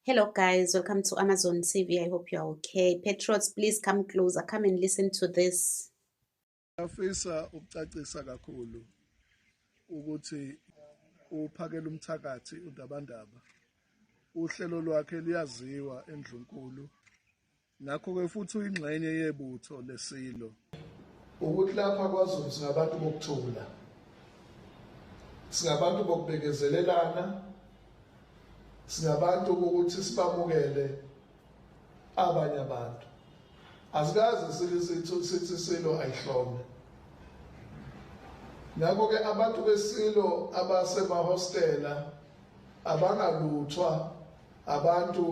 Hello guys, welcome to Amazon TV. I hope you are okay. Patriots, please come closer. Come and listen to this. Afisa ukucacisa kakhulu ukuthi uphakela umthakathi uDabandaba. Uhlelo lwakhe liyaziwa endlunkulu Ngakho-ke futhi uyingxenye yebutho lesilo. Ukuthi lapha kwaZulu singabantu bokuthula, singabantu bokubekezelelana, singabantu ukuthi sibamukele abanye abantu. Asikaze sithi silo ayihlome. Ngakho-ke abantu besilo abasemahostela abangaluthwa abantu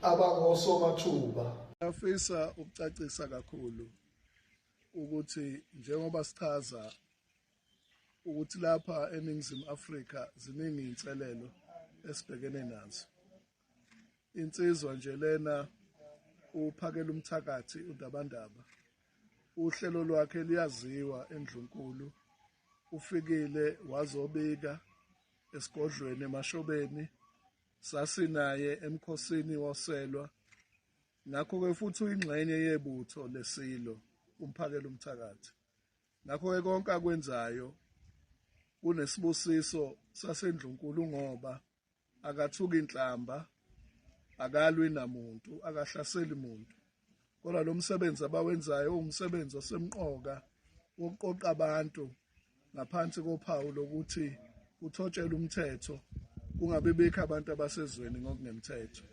abangosomathuba. Ngiyafisa ukucacisa kakhulu ukuthi njengoba sichaza ukuthi lapha eNingizimu Afrika ziningi inselelo esibhekene nazo. Insizwa nje lena uphakela umthakathi uNdabandaba. Uhlelo lwakhe liyaziwa endlunkulu. Ufikile wazobika esigodlweni emashobeni Sasinaye emkhosini woselwa, ngakho-ke futhi uyingxenye yebutho lesilo, umphakela umthakathi. Ngakho-ke konke akwenzayo kunesibusiso sasendlunkulu ngoba akathuki inhlamba akalwi namuntu akahlaseli muntu Kodwa lo msebenzi abawenzayo uwumsebenzi osemqoka wokuqoqa abantu ngaphansi kophawu lokuthi kuthotshelwe umthetho kungabe bekho abantu abasezweni ngokungemthetho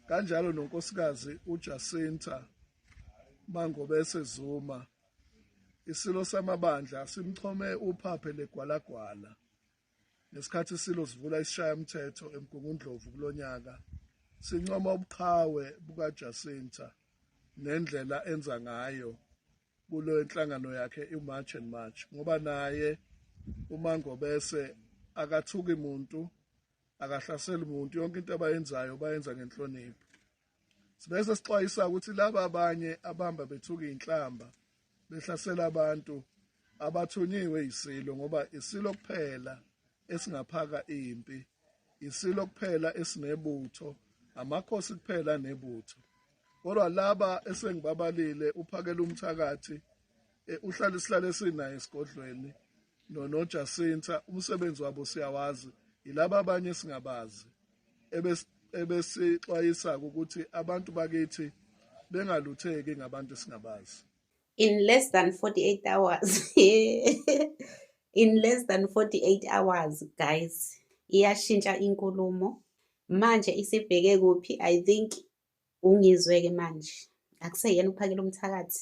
kanjalo nonkosikazi uJacinta Mangobese Zuma isilo samabandla simchome uphaphe legwalagwala Ngesikhathi iSilo sivula isishayamthetho eMgungundlovu kulo nyaka, sincoma ubuqhawe bukaJacinta nendlela enza ngayo kule nhlangano yakhe iMarch and March ngoba naye uMangobese akathuki muntu, akahlaseli muntu, yonke into abayenzayo bayenza ngenhlonipho. Sibese sixwayisa ukuthi laba abanye abamba bethuka inhlamba behlasela abantu abathunyiwe isilo ngoba isilo kuphela esingaphaka impi isilo kuphela esinebutho amakhosi kuphela nebutho kodwa laba esengibabalile uphakela umthakathi eh, uhlala isihlale sinaye esigodlweni nonojasinta umsebenzi wabo siyawazi yilaba abanye singabazi ebesixwayisa-ke ukuthi abantu bakithi bengalutheki ngabantu esingabazi in less than 48 hours in less than 48 hours guys iyashintsha inkulumo manje isibheke kuphi i think ungizwe-ke manje akuseyena uphakela umthakathi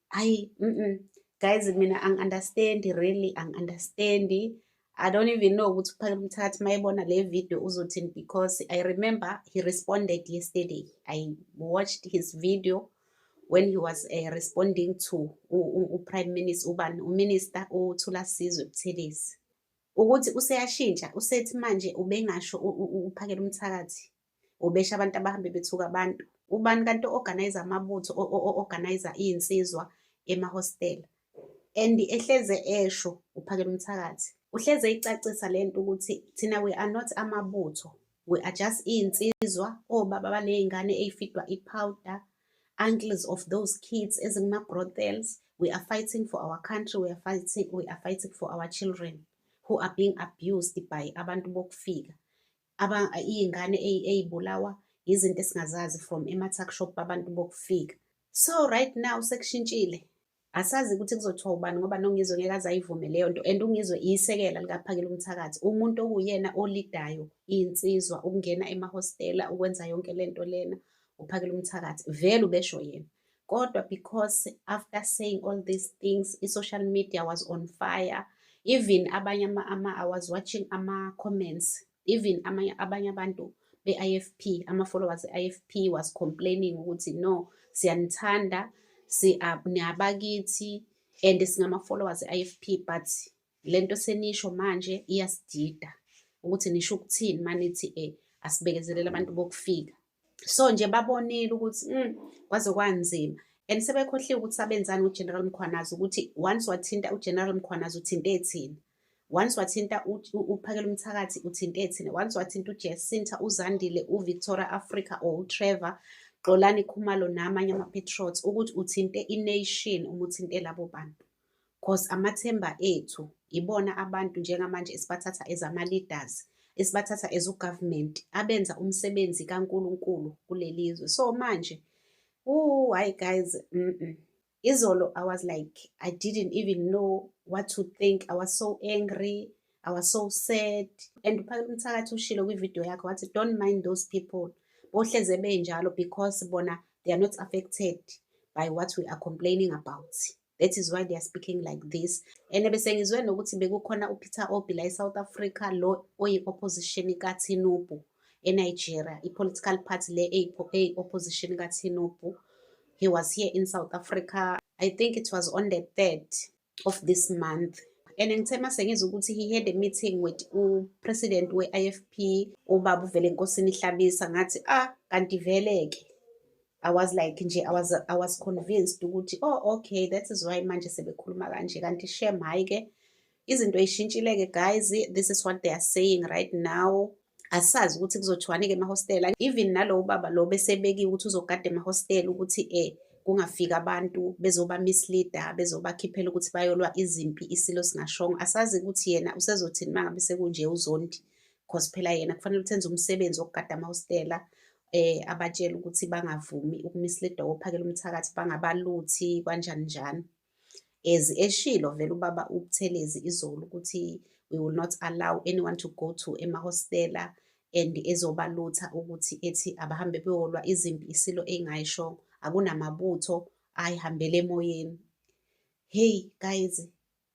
ayi mm -mm. guys mina angi-understandi really angi-understandi I don't even know ukuthi uphakela umthatha mayebona le video uzothini because I remember he responded yesterday. I watched his video when he was uh, responding to uPrime Minister ubani uMinister uThula Sizwe Buthelezi ukuthi useyashintsha usethi manje ubengasho uphakela umthakathi ubesha abantu abahambe bethuka abantu ubani kanti o-organize amabutho o-organize iy'nsizwa emahostela and ehleze esho uphakela umthakathi uhleze icacisa le nto ukuthi thina we are not amabutho we are just iy'nsizwa obaba baney'ngane ey'fidwa i-powder uncles of those kids ezinguma-brothels we are fighting for our country we are fighting, we are fighting for our children who are being abused by abantu bokufika iy'ngane ey'bulawa izinto esingazazi from ema-tuck shop abantu bokufika so right now sekushintshile asazi ukuthi kuzothiwa ubani ngoba nongizwe ngeke aze ayivume leyo nto and ungizwe iyisekela likaphakela umthakathi umuntu okuwuyena olidayo iy'nsizwa ukungena emahostela ukwenza yonke le nto lena uphakela umthakathi vele ubesho yena kodwa because after saying all these things i-social media was on fire even abanye ama i was watching ama-comments even amanye abanye abantu be-ifp ama-followers e-ifp was complaining ukuthi no siyanithanda niyabakithi and singama-followers e-ifp but le nto senisho manje iyasidida ukuthi nisho ukuthini manithi um asibekezelele abantu bokufika so nje babonile ukuthi mm, kwaze kwanzima and sebekhohliwe ukuthi sabenzani uGeneral Mkhwanazi ukuthi once wathinta uGeneral Mkhwanazi uthinte ethini once wathinta uphakela umthakathi uthinte ethini once wathinta uJesinta uZandile uVictoria Africa or uTrevor Xolani Khumalo namanye amapatriots ukuthi uthinte ination uma uthinte labo bantu cause amathemba ethu ibona abantu njengamanje esibathatha as ama-leaders esibathatha as ugovernment abenza umsebenzi kaNkulunkulu kuleli zwe so manje ooh hayi guys mm -mm. izolo i was like i didn't even know what to think i was so angry i was so sad and uphakela umthakathi ushilo kwividiyo yakho wathi don't mind those people bohleze benjalo because bona they are not affected by what we are complaining about that is why they are speaking like this and bese ngizwe nokuthi bekukhona upeter obi la e-south africa lo oyi-opposition kathinubu enigeria i-political party le eyi-opposition kathinubu he was here in south africa i think it was on the third of this month and ngithe uma sengizwa ukuthi he had a meeting with upresident we-i f p ubaba uvele enkosini ihlabisa ngathi ah kanti vele-ke I was like nje I was I was convinced ukuthi oh okay that is why manje sebekhuluma kanje kanti shem hayi ke izinto ishintshile ke guys this is what they are saying right now asazi ukuthi kuzothiwani ke emahostela even nalowo baba lo besebekiwe ukuthi uzogada emahostela ukuthi eh kungafika abantu bezoba misleader bezobakhiphela ukuthi bayolwa izimpi isilo singashongo asazi ukuthi yena usezothini mangabe sekunje uzondi because phela yena kufanele uthenze umsebenzi wokugada amahostela eh abatshela ukuthi bangavumi ukumisleada ophakela umthakathi bangabaluthi kanjani njani as eshilo vele ubaba ubuthelezi izolo ukuthi we will not allow anyone to go to emahostela and ezobalutha ukuthi ethi abahambe beyolwa izimpi isilo engayisho akunamabutho ayihambele emoyeni hey guys